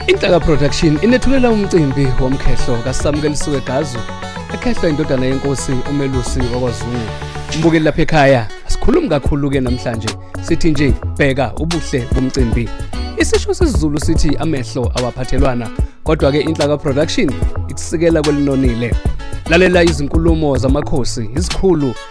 Inhlaka Production inethulela umcimbi womkhehlo kaSamkelisiwe Gazu ekhehlwa indodana yenkosi uMelusi wakwaZungu. Umbukeli lapha ekhaya asikhulumi kakhulu ke namhlanje sithi nje bheka ubuhle bomcimbi. Isisho sesiZulu sithi amehlo awaphathelwana kodwa ke Inhlaka Production ikusikela kwelinonile. Lalela izinkulumo zamakhosi, izikhulu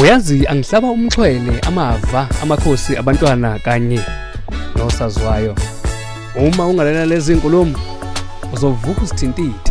uyazi angihlaba umxhwele amava amakhosi abantwana kanye nosazwayo uma ungalela lezi nkulumo uzovuka usithintithe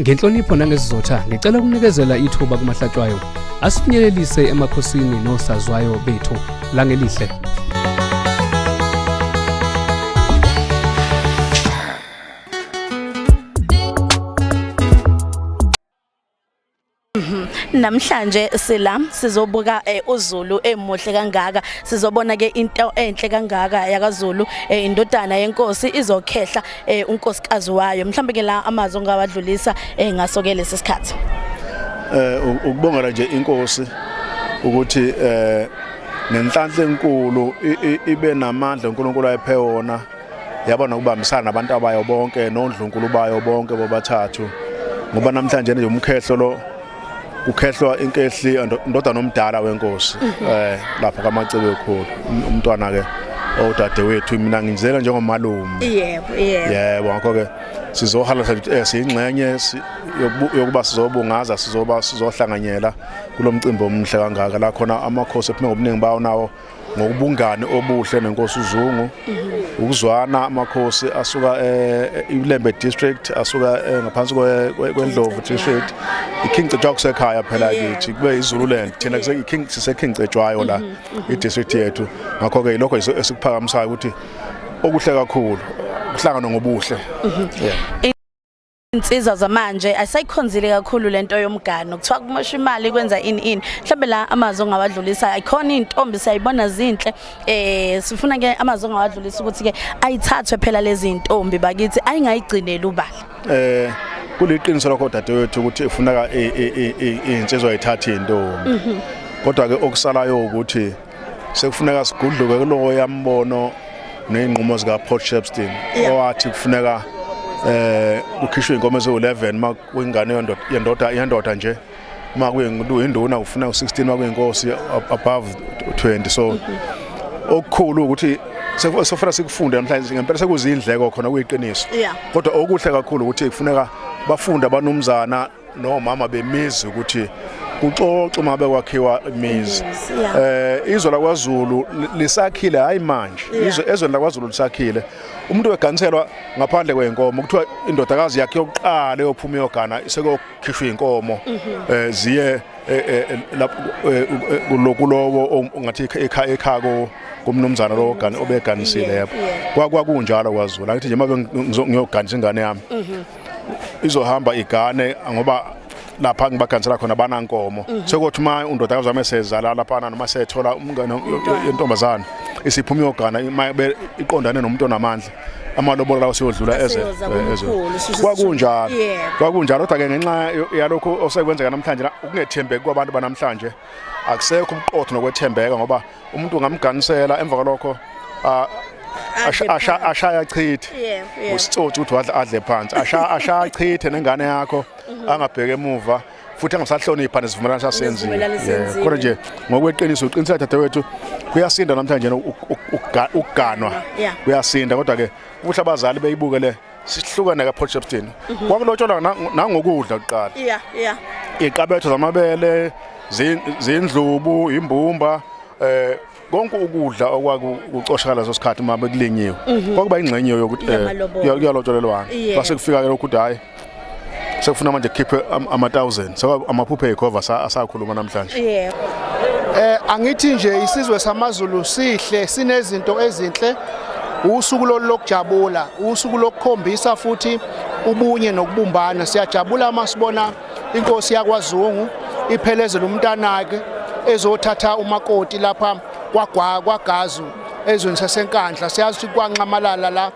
Ngenhlonipho nangesizotha ngicela ukunikezela ithuba kumahlatshwayo asifinyelelise emakhosini nosazwayo bethu langelihle Mhm. Namhlanje sila sizobuka eh, uZulu emuhle kangaka sizobona ke into enhle kangaka yakaZulu eh, indodana yenkosi izokhehla eh, unkosikazi wayo mhlawumbe ke la amazwi ongawadlulisa eh, ngaso ke lesi sikhathi eh ukubongela nje inkosi ukuthi eh nenhlanhla enkulu ibe namandla uNkulunkulu ayiphe wona yaba nokubambisana nabantu abayo bonke nondlunkulu bayo bonke bobathathu ngoba namhlanje nje umkhehlo lo ukhehlwa inkehli indodana omdala wenkosi mhm. eh lapha kamacebe ekhulu um, umntwana ke odade wethu mina ngizela njengomalume yebo yebo yebo ngakho ke sizohala eh, siyingxenye yokuba sizobungaza sizoba sizohlanganyela kulomcimbi omhle kangaka la khona amakhosi ephuma ngobuningi bawo nawo ngokubungani obuhle nenkosi uZungu mhm. ukuzwana amakhosi asuka eh, iLembe district asuka eh, ngaphansi kweNdlovu district iKing Cetshwa kusekhaya phela kithi kube iZululand thina kuseKing siseKing Cetshwayo la mhm, mhm. idistrict yethu ngakho ke lokho esikuphakamisayo ukuthi okuhle kakhulu kuhlangana ngobuhle yeah insizwa zamanje ayisayikhonzile kakhulu lento yomgano kuthiwa kumosha imali kwenza ini ini mhlawumbe la amazwi ongawadlulisa ayikhona intombi siyayibona zinhle eh sifuna ke amazwi ongawadlulisa ukuthi ke ayithathwe phela lezi intombi bakithi ayingayigcineli ubala eh kuliqiniso lokho dadewethu ukuthi ifuneka insizwa ithathe intombi mhm. kodwa ke okusalayo ukuthi sekufuneka sigudluke kulowo yambono ney'nqumo zika-port shepstein owathi kufuneka eh kukhishwe inkomo eziwu-11 uma kwingane yendoda yendoda nje uma kuyinduna kufuna u-16 uma kuyinkosi above 20 so okukhulu ukuthi sofuna sikufunde namhlanje ngempela sekuzindleko khona kuyiqiniso kodwa okuhle kakhulu ukuthi kufuneka bafunde abanumzana no mama bemizi ukuthi kuxoxa uma bekwakhiwa imizi eh izwe lakwaZulu lisakhile hayi manje izwe ezweni lakwaZulu lisakhile umuntu weganselwa ngaphandle kwenkomo kuthiwa indodakazi yakhe yokuqala yophuma yogana sekokhishwa inkomo mhm. eh ziye eh, eh, eh, kulokulowo ongathi ekhaya ekhako kumnumzana lo ogani obeganisile yebo kwakwakunjalo kwazula ngithi nje mabe ngiyoganisa ingane yami mhm. izohamba igane ngoba lapha ngibagansela khona banankomo mhm. sekuthi uma undodakazi wami esezala laphana noma sethola umngane yentombazane isiphuma iyogana iqondane nomuntu onamandla amalobolo lawo siyodlula eze kwakunjalo kwakunjalo kodwa ke ngenxa yalokho osekwenzeka namhlanje ukungethembeki kwabantu banamhlanje akusekho ubuqotho nokwethembeka ngoba umuntu ungamganisela emva kwalokho ashaya chithe usitsotsi ukuthi wadla adle phansi ashaya chithe nengane yakho mhm. angabheke emuva futhi angasahlonipha nesivumelwano sasenzile kodwa nje ngokweqiniso uqiniseka dadewethu kuyasinda namhlanje ukuganwa kuyasinda kodwa ke kuhle abazali beyibuke le sihlukane ka Potchefstroom mhm. kwakulotsholwa nangokudla kuqala yeah yeah iqabetho zamabele zindlubu imbumba eh konke ukudla okwakucoshakala leso sikhathi uma bekulinyiwe mhm. kwakuba ingxenye yokuthi eh, kuyalotsholelwana base kufika ke lokhu hayi sekufuna manje khiphe ama-1000 so amaphuphe ekhova asakhuluma namhlanje yebo eh angithi nje isizwe samaZulu sihle sinezinto ezinhle usuku lokujabula usuku lokukhombisa futhi ubunye nokubumbana siyajabula uma sibona inkosi yakwaZungu iphelezela umntanake ezothatha umakoti lapha kwagwa kwagazu ezweni sasenkandla siyazi ukuthi kwanxamalala la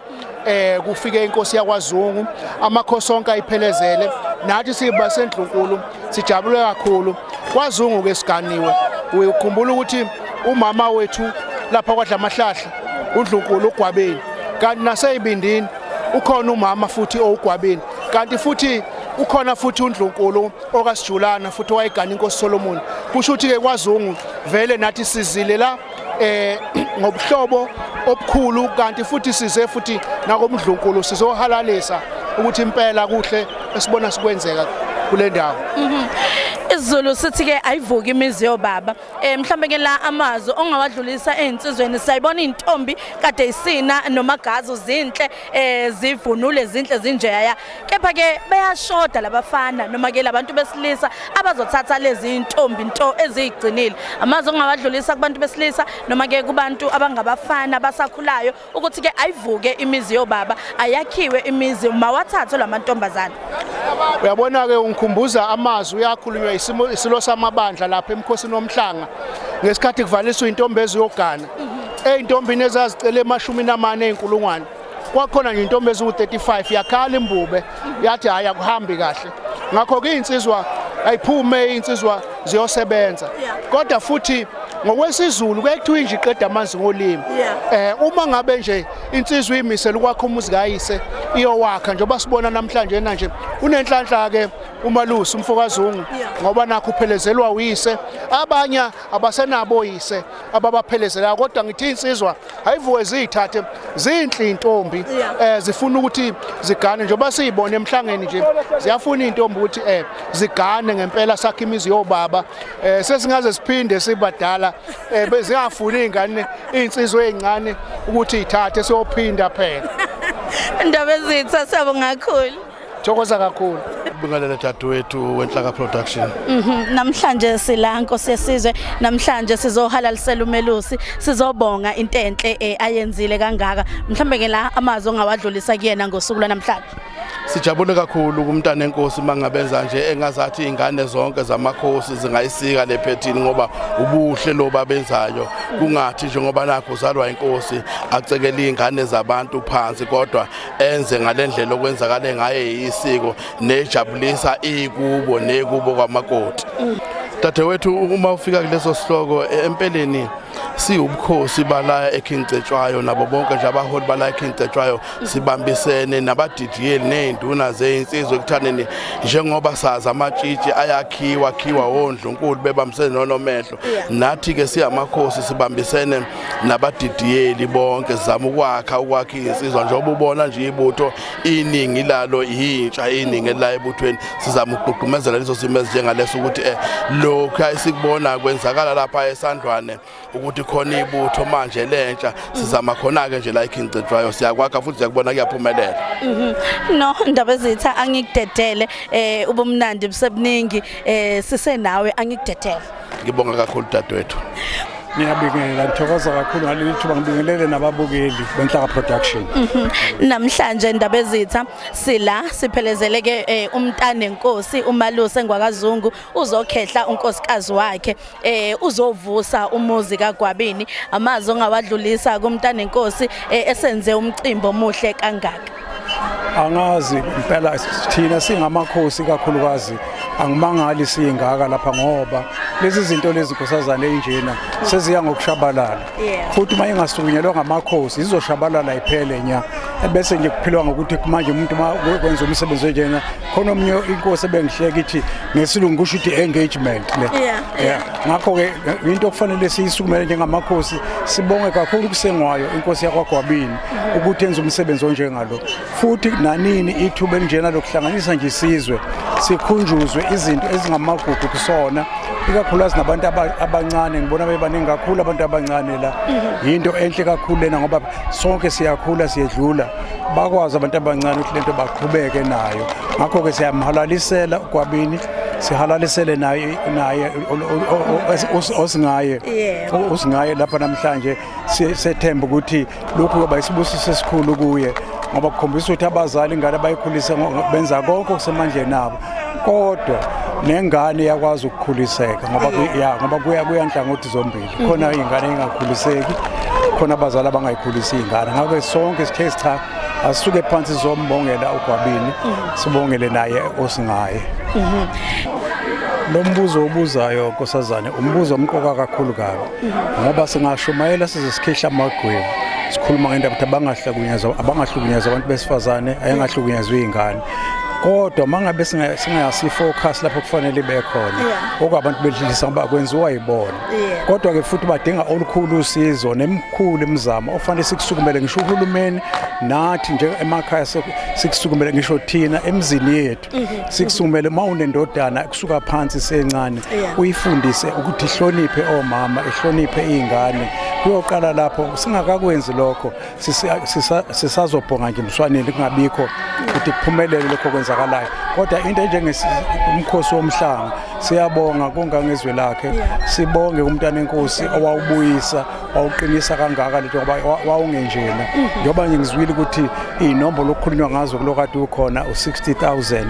eh kufike inkosi yakwaZungu amakhosi onke ayiphelezele nathi siba sendlunkulu sijabule kakhulu kwaZungu ke siganiwe uyukhumbula ukuthi umama wethu lapha kwadlamahlahla undlunkulu ugwabeni kanti naseyibindini ukhona umama futhi owugwabeni kanti futhi ukhona futhi undlunkulu okasijulana futhi wayegana inkosi Solomon kusho ukuthi ke kwaZungu vele nathi sizile la eh ngobuhlobo obukhulu kanti futhi size futhi nakomdlunkulu sizohalalisa ukuthi impela kuhle esibona sikwenzeka kule ndawo mhm. isiZulu sithi ke ayivuki imizi yobaba eh mhlambe ke la amazwi ongawadlulisa ezinsizweni sayibona intombi kade isina nomagazi uzinhle eh zivunule zinhle zinjeya kepha ke bayashoda labafana noma ke labantu besilisa abazothatha lezi ntombi into ezigcinile amazi ongawadlulisa kubantu besilisa noma ke kubantu abangabafana basakhulayo ukuthi ke ayivuke imizi yobaba ayakhiwe imizi mawathathe lamantombazana uyabona ke ungikhumbuza amazwi uyakhulunywa isimo isilo samabandla lapha emkhosini omhlanga ngesikhathi kuvaliswa intombi eziyogana mhm. eyintombini ezazicela emashumi namane enkulungwane kwakhona nje intombi eziwu-35 yakhala imbube yathi hhayi akuhambi kahle ngakho-ke iy'nsizwa ayiphume iy'nsizwa ziyosebenza kodwa futhi ngokwesizulu kuye kuthiwa inje iqeda amanzi ngolimi eh uma ngabe nje insizwa iyimisela ukwakha umuzi kayise iyowakha njengoba sibona namhlanje na nje unenhlanhla ke umalusi umfokazungu ngoba nakho uphelezelwa uyise abanye abasenabo yise ababaphelezelayo kodwa ngithi insizwa hayivuke ziyithathe zinhle intombi eh zifuna ukuthi zigane njengoba siyibona emhlangeni nje ziyafuna intombi ukuthi eh zigane ngempela sakhe imizi yobaba eh sesingaze siphinde sibadala eh bezingafuni ingane insizwe ezincane ukuthi ithathe siyophinda phela indaba ezitha sabo ngakhulu Thokoza kakhulu. Ubingelele dadewethu wenhlaka production. Mhm namhlanje sila Nkosi yesizwe namhlanje sizohalalisela umelusi sizobonga into enhle eh, ayenzile kangaka mhlambe ke la amazwi ongawadlulisa kuyena ngosuku lwanamhlanje. Sijabule kakhulu kumntana enkosi mangabenza nje engazathi ingane zonke zamakhosi zingayisika lephethini ngoba ubuhle lo babenzayo kungathi njengoba nakho uzalwa inkosi acekele ingane zabantu phansi kodwa enze ngalendlela okwenzakale ngaye isiko nejabulisa ikubo nekubo kwamakoti dadewethu uma ufika kuleso sihloko empeleni siwubukhosi balaya eKing Cetshwayo nabo bonke nje abaholi balaya eKing Cetshwayo sibambisene nabadidiyeli nezinduna zezinsizwe ekuthaneni njengoba sazi amatshitshi ayakhiwa khiwa wondlunkulu bebambisene nonomehlo nathi ke siyamakhosi sibambisene nabadidiyeli bonke zama ukwakha ukwakha insizwa njengoba ubona nje ibutho iningi lalo yintsha iningi la ebuthweni sizama ukugqugqumezela leso simo ezinjengaleso ukuthi eh lokhu ayisikubona kwenzakala lapha esandwane ukuthi khona ibutho manje lentsha sizama khona ke nje la ikhincetshwayo siyakwakha futhi siyakubona kuyaphumelela mhm. no ndaba ezitha angikudedele eh ubumnandi busebuningi eh sisenawe angikudedele ngibonga kakhulu dadewethu ngiyabingelela ngithokoza kakhulu ngaleli thuba ngibingelele nababukeli benhlaka production mhm. namhlanje indaba ezitha sila siphelezeleke eh, umntane nkosi umaluse ngwakazungu uzokhehla unkosikazi wakhe eh, uzovusa umuzi kagwabini amazi ongawadlulisa kumntane nkosi eh, esenze umcimbi omuhle kangaka angazi impela thina singamakhosi kakhulukazi angimangali siyingaka lapha ngoba lezi zinto lezi nkosazane enjena seziya ngokushabalala futhi uma ingasukunyelwa ngamakhosi izoshabalala iphele nya bese nje kuphilwa ngokuthi manje umuntu uma kwenza umsebenzi onjena khona omunye inkosi ebengihleka ithi ngesilungu kusho ukuthi engagement le ngakho-ke into okufanele siyisukumele njengamakhosi sibonge kakhulu kusengwayo inkosi yakwagwabini ukuthi enze umsebenzi onjengalo futhi nanini ithuba elinjena lokuhlanganisa nje isizwe sikhunjuzwe izinto ezingamagugu kusona ikakhulukazi nabantu abancane ngibona bebaningi kakhulu abantu abancane la mhm. yinto enhle kakhulu lena ngoba sonke siyakhula siyedlula bakwazi abantu abancane ukuthi lento baqhubeke nayo ngakho-ke siyamhalalisela ukwabini sihalalisele naye naye osingaye osingaye lapha namhlanje sethemba ukuthi lokhu kuba isibusiso esikhulu kuye ngoba kukhombisa ukuthi abazali ingane bayikhulise benza konke okusemandleni abo kodwa nengane yakwazi ukukhuliseka ngoba ya ngoba kuya kuyanhlangothi zombili khona ingane engakhuliseki khona abazali abangayikhulisi ingane ngakho sonke sithe cha asuke phansi zombongela ugwabini sibongele naye osingaye lo mbuzo obuzayo nkosazane umbuzo omqoka kakhulu kabi ngoba singashumayela size sikhihla amagwebu sikhuluma ngendaba ukuthi abangahlukunyezwa abangahlukunyezwa abantu besifazane ayengahlukunyezwa iy'ngane kodwa mangabe singayasi focus lapho kufanele ibe khona okwabantu bedlulisa ngoba kwenziwa yibona kodwa ke futhi badinga olukhulu usizo nemkhulu imizamo ofanele sikusukumele ngisho uhulumeni nathi nje emakhaya sikusukumele ngisho thina emzini yethu sikusumele uma unendodana kusuka phansi sencane uyifundise ukuthi ihloniphe omama ihloniphe iy'ngane kuyoqala lapho singakakwenzi lokho sisazobhonga nje emswaneni kungabikho ukuthi kuphumelele lokho kwenzakalayo kodwa into enjengomkhosi womhlanga siyabonga kongangezwe lakhe sibonge kumntana enkosi owawubuyisa wawuqinisa kangaka lento ngoba wawungenjena njengoba ngizwile ukuthi iy'nombolo okukhulunywa ngazo kulo kade ukhona u-60000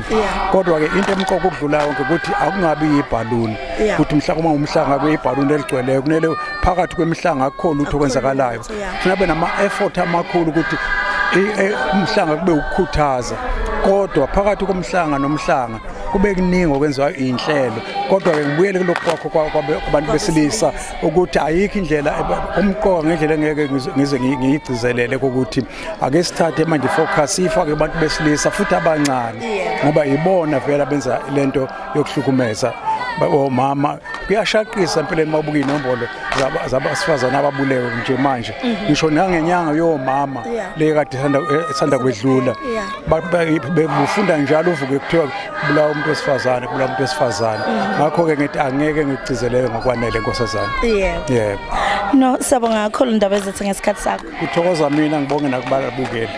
kodwa-ke into emqoka ukudlula yonke ukuthi akungabi yibhaluni ukuthi mhla uma umhlanga kube yibhaluni eligcweleyo kumele phakathi kwemihlanga akukhona lutho okwenzakalayo funa be nama-effort amakhulu ukuthi e, umhlanga kube ukukhuthaza kodwa phakathi komhlanga nomhlanga kube kuningi okwenziwayo iy'nhlelo kodwa-ke ngibuyele kulokhu kwakho kwabantu besilisa ukuthi ayikho indlela umqoka ngendlela engeke ngize ngiyigcizelele ukuthi ake sithathe manje focus ifake abantu besilisa futhi abancane ngoba yibona vele abenza lento yokuhlukumeza omama kuyashaqisa empeleni mabuka inombolo zabasifazane ababulewe nje manje mhm. ngisho nangenyanga yomama le kade esanda eh, kwedlula befunda njalo uvuke kuthiwa kubulawa umuntu wesifazane kubulawa umuntu wesifazane mhm. ngakho-ke ngithi angeke ngigcizelele ngokwanele nkosazane yebo yebo no siyabonga kakhulu indaba ezethu ngesikhathi sakho kuthokoza mina ngibonge nakubalabukeli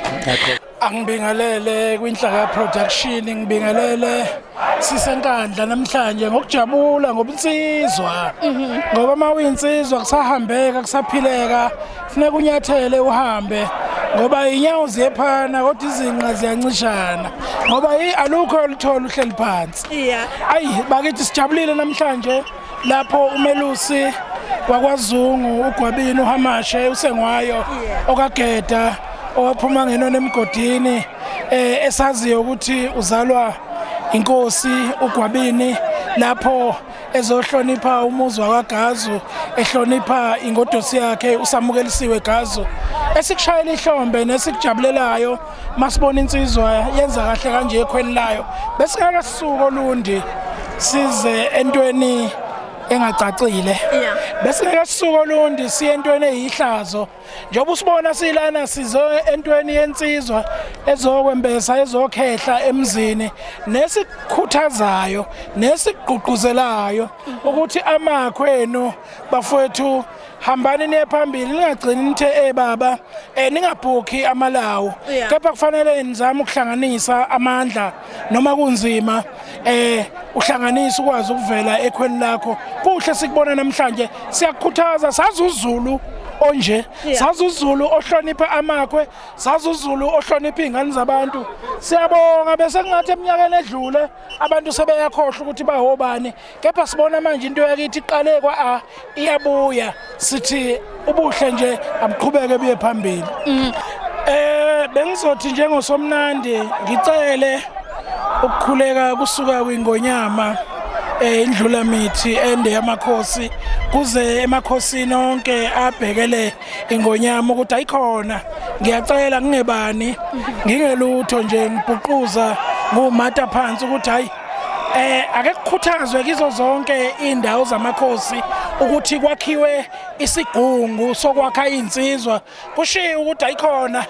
angibingelele kwinhlaka production ngibingelele sisenkandla namhlanje ngokujabula ngobunsizwa mhm. ngoba uma uyinsizwa kusahambeka kusaphileka Funeka unyathele uhambe ngoba inyawo ziyephana kodwa izinqa ziyancishana ngoba alukho oluthola uhleli phansi yeah. ayi bakithi sijabulile namhlanje lapho umelusi wakwazungu ugwabini uhamashe usengwayo yeah. okageda owaphuma ngenona emgodini eh esaziyo ukuthi uzalwa inkosi ugwabini lapho ezohlonipha umuzi wakagazu ehlonipha ingodosi yakhe usamukelisiwe gazu esikushayela ihlombe nesikujabulelayo masibona insizwa yenza kahle kanje ekhweni layo besingeke sisuko lundi size entweni engacacile besingeke sisuko lundi siye entweni eyihlazo njengoba usibona silana sizo entweni yensizwa ezokwembesa ezokhehla emzini nesikhuthazayo nesigqugquzelayo ukuthi amakhwenu bafowethu hambani niye phambili ningagcini nithe eh baba eh ningabhukhi amalawo kepha kufanele nizame ukuhlanganisa amandla noma kunzima eh uhlanganisa ukwazi ukuvela ekhweni lakho kuhle sikubona namhlanje siyakukhuthaza sazi uZulu onje sazi uZulu ohlonipha amakhwe sazi uZulu ohlonipha izingane zabantu siyabonga bese kungathi eminyakeni edlule abantu sebeyakhohlwa ukuthi bahobani kepha sibona manje into yakithi iqale kwa-a iyabuya sithi ubuhle nje abuqhubeke buye phambili um bengizothi njengosomnandi ngicele ukukhuleka kusuka kwingonyama eh indlula mithi ende yamakhosi kuze emakhosini onke abhekele ingonyama ukuthi ayikhona ngiyacela ngingebani ngingelutho nje ngibhuquza ngumata phansi ukuthi hayi eh ake kukhuthazwe kizo zonke indawo zamakhosi ukuthi kwakhiwe isigungu sokwakha insizwa kushiyo ukuthi ayikhona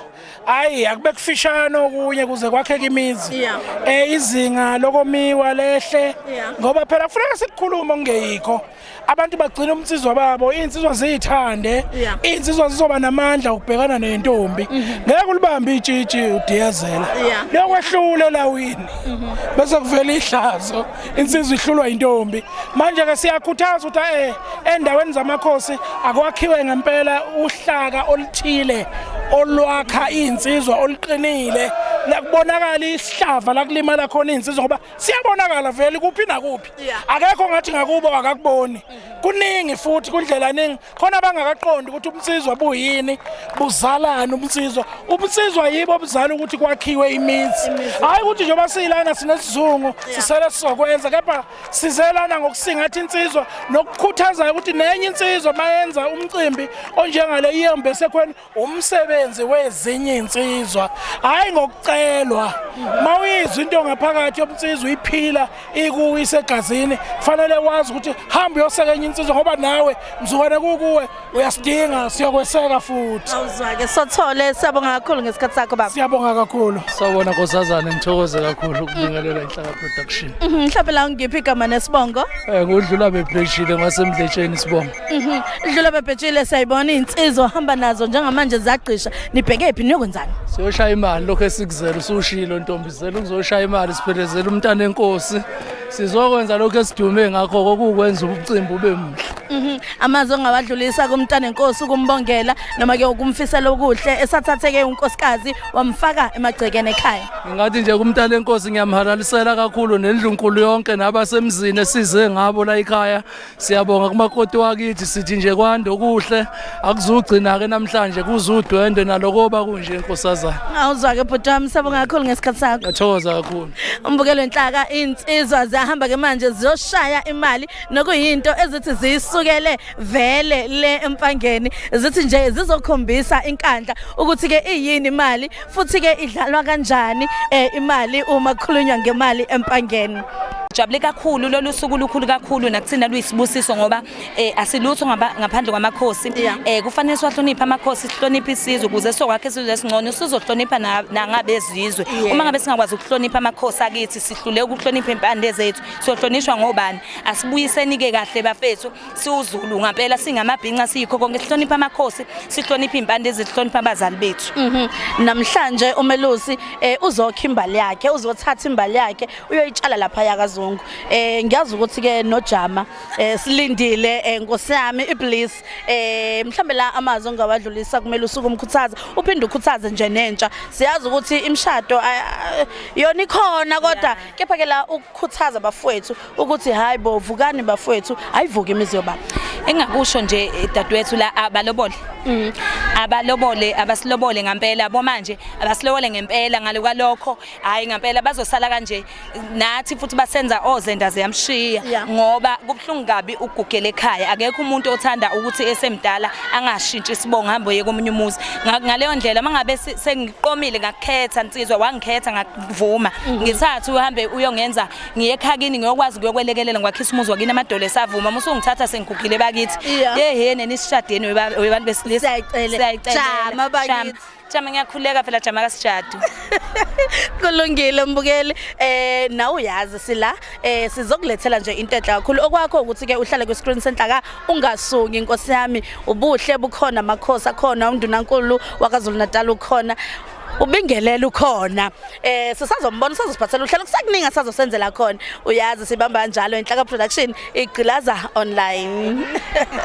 hayi akube kufishane okunye kuze kwakheke imizi eh izinga lokomiwa lehle ngoba phela kufuneka sikukhulume ngeyikho abantu bagcina umnsizwa babo iy'nsizwa ziyithande Yeah. iy'nsizwa zizoba namandla okubhekana nentombi ngeke ulibambe itshitshi udiyazela Yeah. lokwehlule lawini bese kuvela ihlazo insizwa ihlulwa yintombi manje-ke siyakhuthaza ukuthi eh endaweni zamakhosi akwakhiwe ngempela uhlaka oluthile olwakha iy'nsizwa oluqinile la kubonakala isihlava la kulimala khona iy'nsizwa ngoba siyabonakala vele kuphi nakuphi akekho ngathi ngakubo akakuboni kuningi futhi kundlela ningi khona abangakaqondi ukuthi ubunsizwa buyini buzalana ubunsizwa ubunsizwa yibo obuzala ukuthi kwakhiwe imizi hayi ukuthi njengoba siyilana sinesizungu sisele sizokwenza kepha sizelana ngokusingatha insizwa nokukhuthazayo ukuthi nenye insizwa mayenza umcimbi onjengale iyembe sekhweni umsebenzi wezinye insizwa hayi ngokucelwa mawuyizwa into ngaphakathi yomnsizwa iphila ikuwe isegazini fanele wazi ukuthi hamba uyoseka enye insizwa ngoba nawe mzukwane kukuwe uyasidinga siyokweseka futhi awuzwake sothole siyabonga kakhulu ngesikhathi sakho baba siyabonga kakhulu sawona nkosazana ngithokoze kakhulu ukubingelela inhlaka production mhm, mhlawumbe la ngiphi igama nesibongo eh kudlula bepheshile ngasemdletsheni isibongo Mhm. Dlula babhetshile siyayibona insizwa hamba nazo njengamanje zagqisha nibheke phi niyokwenzani? Siyoshaya imali lokho esikuzela usushilo ntombi zela ukuzoshaya imali siphelezela umntana enkosi. Sizokwenza lokho esidume ngakho kokukwenza umcimbi ube muhle. Mhm. Amazwi ongawadlulisa kumntana enkosi ukumbongela noma ke ukumfisela okuhle esathatheke unkosikazi wamfaka emagcekeni ekhaya. Ngathi nje kumntana enkosi ngiyamhalalisela kakhulu nendlunkulu yonke nabasemzini esize ngabo la ekhaya Siyabonga kumakoti wakithi sithi nje kwande okuhle akuzugcina ke namhlanje kuzudwendwe nalokoba kunje inkosazana. Awuzwa ke bhuti wami sabonga kakhulu ngesikhathi sakho. Ngathokoza kakhulu. Umbukelo inhlaka insizwa ziyahamba ke manje ziyoshaya imali nokuyinto ezithi ziyisukele vele le empangeni zithi nje zizokhombisa inkandla ukuthi ke iyini imali futhi ke idlalwa kanjani eh, imali uma kukhulunywa ngemali empangeni Jabule kakhulu lolu suku lukhulu kakhulu nakuthina luyisibusiso ngoba eh asilutho ngaphandle kwamakhosi eh kufanele siwahloniphe amakhosi sihloniphe isizwe ukuze sokwakhe isizwe esingcono sizohlonipha nangabezizwe uma ngabe singakwazi ukuhlonipha amakhosi akithi sihlule ukuhlonipha impande zethu sohlonishwa ngobani asibuyiseni ke kahle bafethu siwuzulu ngampela singamabhinca siyikho konke sihlonipha amakhosi sihlonipha iy'mpande ezihlonipha abazali bethu mhm. namhlanje umelusi um uzokha imbali yakhe uzothatha imbali yakhe uyoyitshala lapha yakazungu um ngiyazi ukuthi-ke nojama um silindile um nkosi yami iblis um mhlawumbe la amazwi ongawadlulisa kumele usuke umkhuthaza uphinde ukhuthaze nje nentsha siyazi ukuthi imishado yona ikhona kodwa kepha-ke la ukukhuthaza abafowethu ukuthi hayi bo vukani bafowethu ayivuke imizi yobaba engakusho nje eh, dadewethu la abalobole mm. abalobole abasilobole ngempela bo manje abasilobole ngempela ngaloka lokho hayi ngempela bazosala kanje nathi futhi basenza ozenda oh, ziyamshiya yeah. ngoba kubhlungu kabi ukugugela ekhaya akekho umuntu othanda ukuthi esemdala angashintshi isibongo hambo ye komunye umuzi ngaleyo ndlela mangabe sengiqomile ngakukhetha nsizwa wangikhetha ngakuvuma mm. ngithatha uhambe uyongenza ngiye ekhakini ngiyokwazi kuyokwelekelela ngwakhisa umuzi wakini amadolo esavuma uma usungithatha sengigugile bakithi Yeah. yehene nisishadeni weba- webantu besilisa Siyayicele. Siyayicelela. Jama bakithi. Jama. jama ngiyakhuleka phela jama kasijadu kulungile mbukeli eh nawe uyazi sila eh sizokulethela nje into enhle kakhulu okwakho ukuthi ke uhlale kwi-screen center ka ungasuki inkosi yami ubuhle bukhona amakhosi akhona undunankulu wakazulu natal ukhona ubingelela ukhona eh sisazombona sazosiphathela uhlelo kusekuningi asazosenzela khona uyazi sibamba njalo inhlaka production igqilaza online